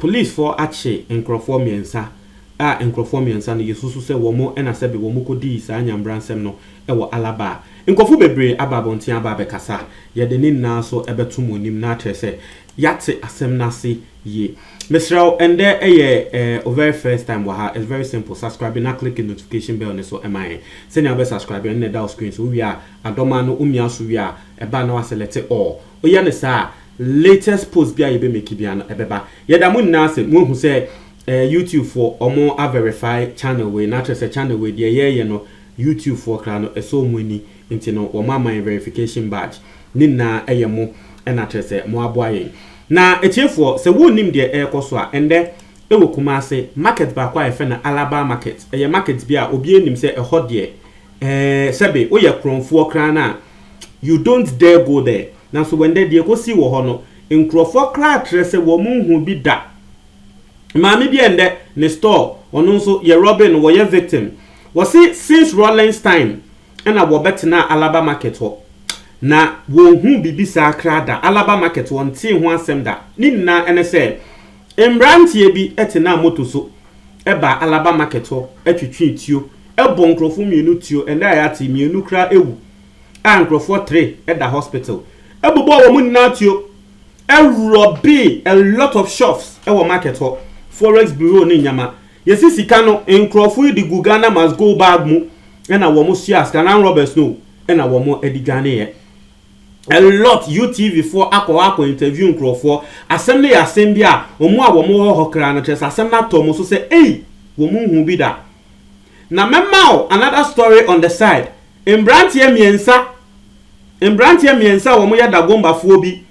Polisfoɔ akye nkorɔfoɔ mmiɛnsa a nkorɔfoɔ mmiɛnsa no yɛsusu sɛ wɔn na sɛbe wɔn kɔdii saa nyambra nsɛm no wɔ Alaba. Nkorɔfoɔ bebree aba abɔnten aba abɛkasa, yɛde ne nyinaa so bɛto mo anim na akyerɛ sɛ yɛate asɛm no ase yie. Mesrɛ wo, ɛndɛ yɛ wo very first time wɔ ha, it's very simple, subscribe na click notification bell no so ma yɛn. Sɛnea wobɛ subscribe no na ɛda wo screen so, wowie a adɔma no womia so wie a ɛba a na woasɛlɛte all, Woyɛ no saa a, latest post biara a yɛbɛ make biara no, ɛbɛba. Yɛda mo nyinaa ase, moahu sɛ eh, YouTube foɔ, wɔn a verify channel wei, na kyerɛ sɛ channel wei, deɛ yɛɛyɛ no, YouTube foɔ koraa no, ɛsɔ wɔn ani, nti no, wɔn ama yɛn verification badge. Ne nyinaa ɛyɛ mo, ɛna kyerɛ sɛ mo aboa yɛn. Na atiefoɔ, sɛ wonnim deɛ ɛɛkɔ so a, ɛndɛ, ɛwɔ Kumase, market baako a yɛfrɛ no Alaba market, ɛyɛ market bi a obiara nim sɛ ɛhɔ deɛ, Ɛɛ sɛbe woyɛ korɔnfoɔ koraa no a, you don't dare go there. Nanso wɛndɛ deɛ ɛkɔsii wɔ hɔ no, nkorɔfoɔ koraa kyerɛ sɛ wɔn nhuu bi da. Maame bi ɛndɛ ne store, ɔno nso yɛ robbery no wɔyɛ victim. Wɔse since Rawlings time ɛna wɔbɛtenaa Alaba market hɔ. Na wɔnhuu biribi saa koraa da. Alaba market wɔntee ho asɛm da. Ne nyinaa ɛne sɛ mmeranteɛ bi ɛtenaa moto so baa Alaba market hɔ twetwee tuo bɔɔ nkurɔfoɔ mmienu tuo, ɛnnɛ a yɛate yi mmienu koraa awu a nkurɔfoɔ three da hospital. Ɛbobɔɔ wɔn nyinaa tuo, ɛrɔbee a lot of shops wɔ market hɔ, forex bureau ne nneɛma. Yɛsi sika no, nkurɔfoɔ yi de gu Ghana must go bag mu na wɔsoaa sika no, armed robbers no na wɔde dwaneeɛ. a lot UTV foɔ akɔ hɔ akɔ interview nkorɔfoɔ, asɛm no yɛ asɛm bi a wɔn a wɔn wɔ hɔ koraa no kyerɛ sɛ asɛm no atɔ wɔn so sɛ ei wɔn nhuu bi da. Na mɛma wo another story on the side, mberanteɛ mmiɛnsa mberanteɛ mmiɛnsa a wɔn yɛ Dagomba foɔ bi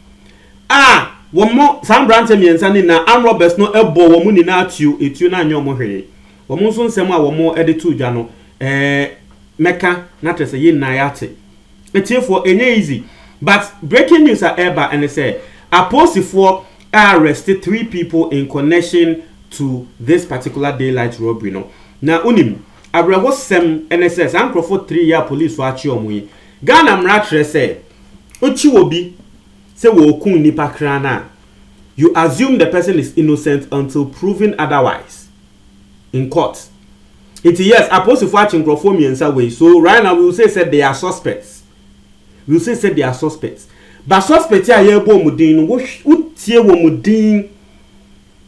a wɔn saa mberanteɛ mmiɛnsa no nyinaa armed robbers no bɔ wɔn nyinaa tuo, etuo no anyɛ wɔn hwee. Wɔn nso nsɛm a wɔn de too dwa no ɛɛ mɛka na kyerɛ sɛ yɛn nyinaa yɛate. Atiefoɔ ɛnyɛ easy but breaking news a ɛreba ɛne sɛ apolisifoɔ arreste three people in connection to this particular daylight robbery no na wonim awerɛhosɛm ɛne sɛ saa nkorɔfoɔ three yi a policefoɔ akye wɔn yi Ghana mmara kyerɛ sɛ wokye obi sɛ wɔreku nnipa kraa no a you assume the person is innocent until proven otherwise. in court nti yes apolisifo akye nkurɔfoɔ mmiɛnsa wei so right now we will say sɛ they are suspects we will say sɛ they are suspects but suspect a yɛrebɔ wɔn din no wotie wɔn din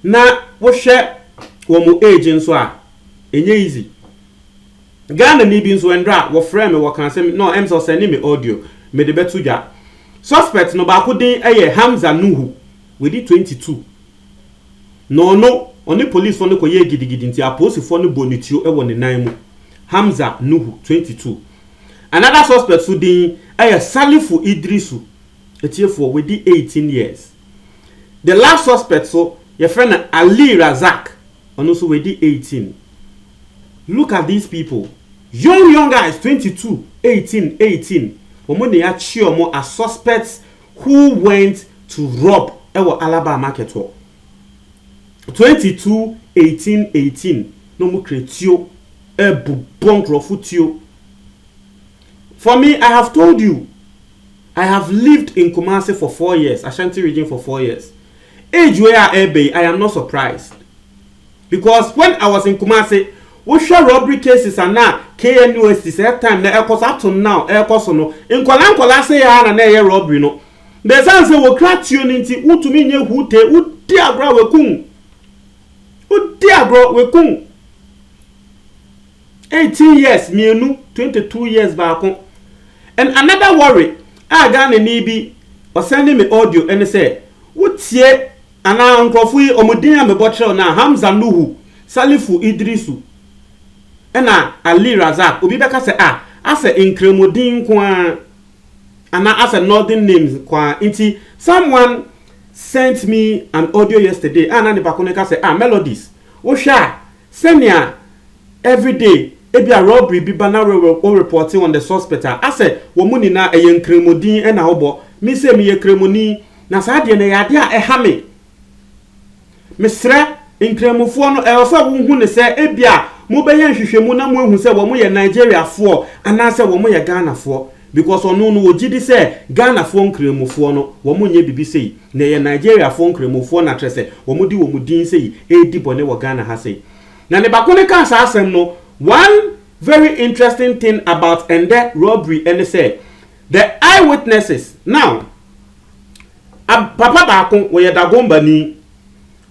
na wohwɛ wɔn age nso a ɛnyɛ easy Ghana ni bi nso ɛndra wɔfrɛ me wɔka sɛ no ɛm sɛ ɔsɛne me audio mede bɛto dwa suspect no baako din ɛyɛ Hamza Nuhu wɔdi 22 Nnɔɔno, ɔne polisfoɔ no kɔyɛɛ gidigidi nti apolisifoɔ no bɔɔ no tuo wɔ ne nan mu. Hamza Nuhu, twenty two. Another suspect nso din yɛ Salifu Idrisu. Atiefoɔ, wadi eighteen years. The last suspect nso, yɛfrɛ no Ali Razak, ɔno nso wadi eighteen. Look at these people, young young guys, twenty two, eighteen, eighteen, wɔn na yɛakye wɔn as suspects Who went to rob wɔ Alabaa market hɔ twenty two eighteen eighteen na ɔmo kura tuo ɛbobɔ nkorɔfo tuo for me I have told you I have lived in Kumasi for four years Ashanti region for four years age wei a ɛɛba yi I am not surprised Because when I was in Kumasi, wo hwɛ robbery cases ana KNUST saa time na ɛkɔ so ato now ɛkɔ so no, nkwadaa nkwadaa sɛɛ ara na na ɛyɛ robbery no. Na ɛsan sɛ wɔ kura tuo no nti, wo tumi nyɛ huu tee, wo di agorɔ a wɛkun, wo di agorɔ wɛkun. Eighteen years mmienu, twenty two years baako. And another worry a Ghana ni bi ɔsɛn ne me audio ɛne sɛ, wo tie, Ana nkorɔfo yi ɔmo din a mebɔ kyerɛw no a Hamza Nuhu, Salifu Idrisu na Ali Razak obi bɛka sɛ ah asɛ nkramu din nko ara anaa asɛ Northern names nko ara nti someone sent me an audio yesterday a na nipa ko no ka sɛ ah Melodies wohwɛ a sɛnea everyday ebia robbery bi ba na wo report on the suspect a asɛ wɔn nyinaa ɛyɛ nkramu din na wobɔ me sei meyɛ kramoni Na saa deɛ no ɛyɛ adeɛ a ɛha me. Mesrɛ Nkranmufoɔ no ɛwɔ sɛ wohu no sɛ ebia mobɛyɛ nhwehwɛmu na moahu sɛ wɔn yɛ Nigeriafoɔ anaasɛ wɔn yɛ Ghanafoɔ because ɔno no ɔgyedi sɛ Ghanafoɔ Nkranmufoɔ no wɔn nyɛ bibi sei na ɛyɛ Nigeriafoɔ Nkranmufoɔ na kyerɛ sɛ wɔn de wɔn din sei redi bɔne wɔ Ghana ha sei. Na ne ba ko no kaa saa asɛm no one very interesting thing about ɛndɛ robbery ɛne sɛ The Eyewitnesses, Now, a papa baako, ɔyɛ Dagombani.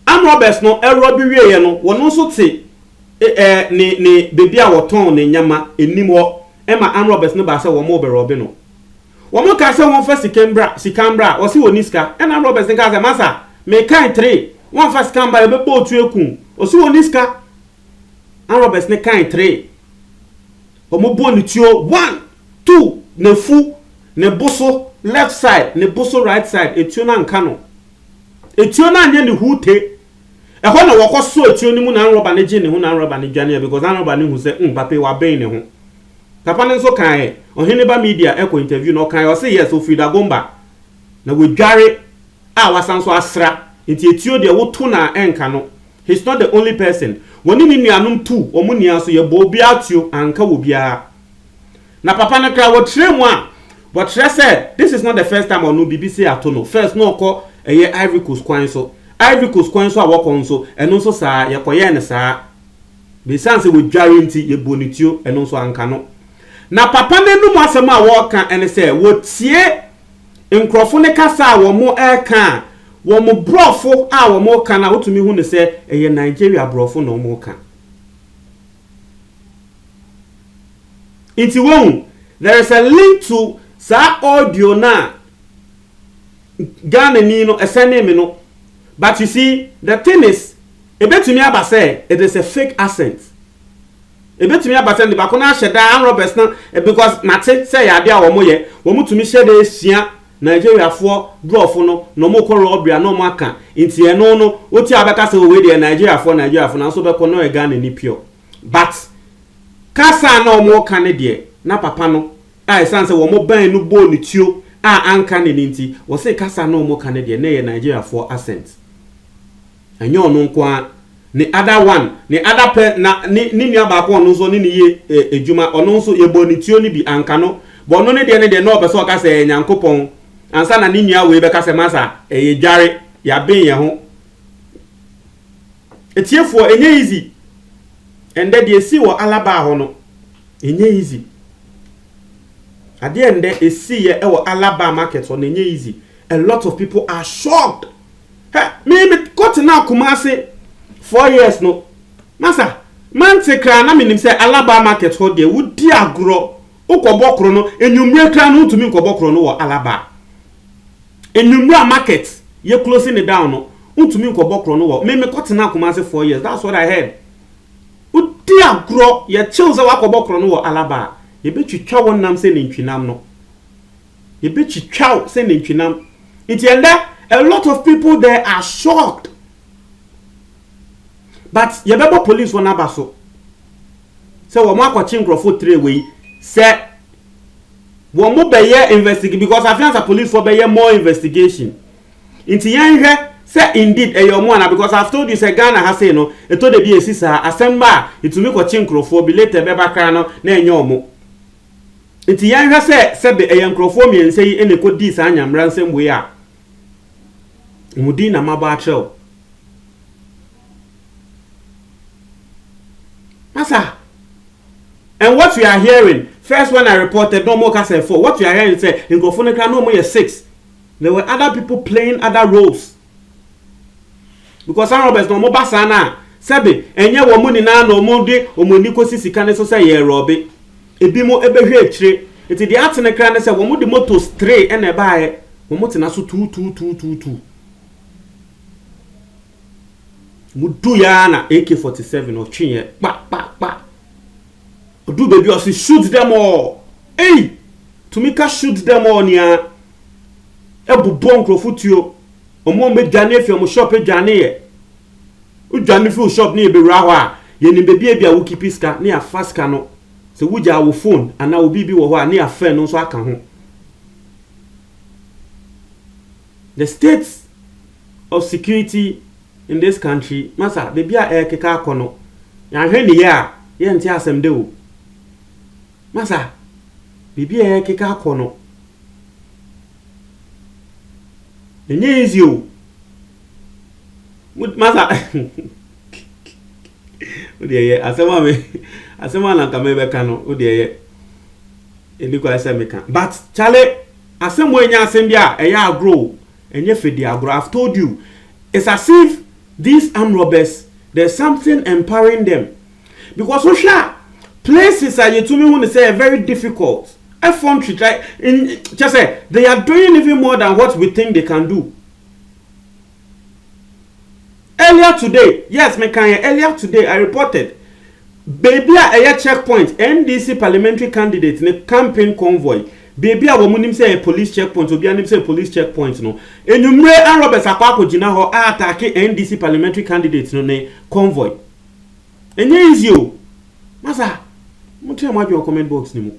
Armed robbers no rɔbe wieeɛ no, wɔn nso te ɛ ne ne baabi a wɔtɔn ne nneɛma anim hɔ ma armed robbers no baa sɛ wɔrebɛrɔbe no. Wɔkaa sɛ wɔmfa sika mbra, sika mbra, ɔse ɔnni sika. Ɛna armed robbers no kaa sɛ, Masa, mekae three, woamfa sika mba, yɛbɛbɔ otu aku wo. Ɔse ɔnni sika. Armed robbers no kae three. Wɔbɔ ne tuo one, two, n'afu, ne bo so left side, ne bo so right side, etuo no anka no. Etuo no anyɛ ne huute. Ɛhɔ na wɔkɔ so etuo no mu na anrɔba no gye ne ho na anrɔba no dwane ɛ because anrɔba no hu sɛ um papa yi waben ne ho. Papa no nso kae ɛ, ɔhene ba media ɛkɔ interview no ɔkae ɔse yes ofiri Dagomba na wadware a wasan nso asra nti etuo deɛ woto no a ɛnka no. He's not the only person wɔne ne nuanom tuu wɔn nua so yɛbɔɔ obiara atuo anka wɔ biara na papa no koraa wɔkyerɛɛ mu a wɔkyerɛ sɛ this is not the first time ɔno biribi sei ato no first na ɔkɔ ɛyɛ Ivory Coast kwan so Ivory Coast kwan so a wɔkɔ nso ɛno nso saa yɛkɔyɛɛ no saa besiane sɛ wɔdware nti yɛbɔɔ ne tuo ɛno nso anka no na papa no anum asɛm a wɔka ɛne sɛ wɔtie nkurɔfo no kasa a wɔreka a, wɔn Borɔfo a wɔreka no a, wotumi hu no sɛ ɛyɛ Nigeria Borɔfo na wɔreka. Nti wohu, there is a link to saa audio no a Ghanani no ɛsɛnee me no. But you see, the thing is, ebetumi aba sɛ it is a fake accent. Ebetumi aba sɛ de baako no ahyɛ da and Roberts no because mate sɛ ɛyɛ ade a wɔn yɛ, wɔn tumi hyɛ da sua Nigeriafoɔ brɔfo no na wɔn kɔ robbery a na wɔn aka nti ɛno no wotie a wobɛka sɛ oh wei deɛ Nigeriafoɔ Nigeriafoɔ nanso wobɛkɔ na ɔyɛ Ghanani pure but kasa a na wɔn reka no deɛ na papa no a ɛsan sɛ wɔn bɛn no bɔɔ ne tuo a anka ne ni nti wɔse kasa a na wɔn reka no deɛ na ɛyɛ Nigeriafoɔ accent. Ɛnyɛ ɔno nko ara, ne other one, ne other pɛ na ne ne nua baako a ɔno nso ɔne no yɛ eh adwuma, ɔno nso yɛbɔɔ ne tuo no bi, anka no, but ɔno ne deɛ ne deɛ na ɔpɛ sɛ ɔka sɛ ɛyɛ Nyankopɔn, ansa na ne nua wei bɛka sɛ masa, ɛyɛ dware, yɛaben yɛn ho. Atiefoɔ, ɛnyɛ easy. Ɛndɛ deɛ ɛsii wɔ Alabaa hɔ no, ɛnyɛ easy. Adeɛ ɛndɛ ɛsiiɛ wɔ Alabaa market hɔ no, ɛnyɛ easy. A lot of people are shocked. Hɛ, me me kɔ tenaa Kumasi four years no, na sa mante koraa na menim sɛ Alaba market hɔ deɛ wodi agorɔ, wokɔbɔ koro no, anwummere koraa no wontumi nkɔbɔ koro no wɔ Alaba. Anwummere a market yɛ closing ne down no, wontumi nkɔbɔ koro no wɔ, me me kɔ tenaa Kumasi four years, that's what I heard. Wodi agorɔ, yɛkyew sɛ wakɔbɔ koro no wɔ Alaba a, yɛbɛtwitwa wo nam sɛ nantwinam no. Yɛbɛtwitwa wo sɛ nantwinam. Nti ɛndɛ a lot of people there are shocked but yɛbɛbɔ police wɔn aba so sɛ wɔn akɔkye nkorɔfo tire wei sɛ wɔn bɛyɛ investigate because afe ansa police fo bɛyɛ more investigation nti yɛn hwɛ sɛ indeed ɛyɛ wɔn ana because I've told you sɛ Ghana ha sei no ɛtɔ da bi esi saa asɛm ba a etumi kɔkye nkorɔfoɔ bi later ɛbɛba koraa no na ɛnyɛ wɔn. Enti yɛnhwɛ sɛ sɛbe ɛyɛ nkurɔfoɔ mmiɛnsa yi na ɛkɔdii saa nyamera nsɛm wei a, wɔn din na mabɔ akyerɛ wo. Masa, And what we are hearing, first when I reported na wɔreka sɛ four, what we are hearing sɛ nkurɔfoɔ no koraa na wɔyɛ six. There were other people playing other roles. Because Sam Roberts na wɔn ba saa no a, sɛbe ɛnyɛ wɔn nyinaa na wɔn de wɔn ani kɔsi sika no so sɛ yɛrɔbe. Ebinom bɛhwɛ akyire. Nti deɛ atene kra ne sɛ wɔn de motos three ɛna ɛbaeɛ, wɔn tena so tuutuutuutuutuu. Wɔn duiɛ ara na AK forty seven ɔtweeɛ kpa kpa kpa. Ɔduru baabi a ɔse shoot them all ei! Tumi ka shoot them all ni aa! Ɛbobɔ nkurɔfo tuo, wɔn a wɔadwane afi wɔn shop adwaneeɛ. Wodwane fi wo shop ne yɛbɛwura hɔ a, yɛnim baabi a ebia wo keepi sika ne yɛafa sika no. Sɛ wogyaa wo phone anaa wo biribi wɔ hɔ a ne yɛafa ɛno nso aka ho. The state of security in this country masa baabi a ɛrekeka akɔ no yɛanhwɛ ne yie a yɛnte asɛm da o masa baabi a ɛrekeka akɔ no ɛnyɛ easy o masa o deɛ yɛ asɛm a me asɛm a nanka mebɛka no o deɛ yɛ ɛni kwan sɛ meka but kyale Asɛm wei nyɛ asɛm bi a ɛyɛ agorɔ o, ɛnyɛ fɛdi agorɔ, I've told you, it's as if these armed robbers there's something empowering them because wohwɛ a places a yɛtumi hu no sɛ ɛyɛ very difficult, ɛfɔ ntwitwa, kyerɛ sɛ they are doing even more than what we think they can do. Earlier today, yes me kan yɛ earlier today I reported beebi a ɛyɛ check point NDC parliamentary candidate ne campaign convoy beebi a wɔn nim sɛ ɛyɛ police check point obiara nim sɛ police check point no enyimire arm robbers akɔ akɔgyina hɔ a ataake NDC parliamentary candidate no ne convoy ɛnyɛ easy o masa mo kyerɛ mo adwene wɔ comment box ne mu.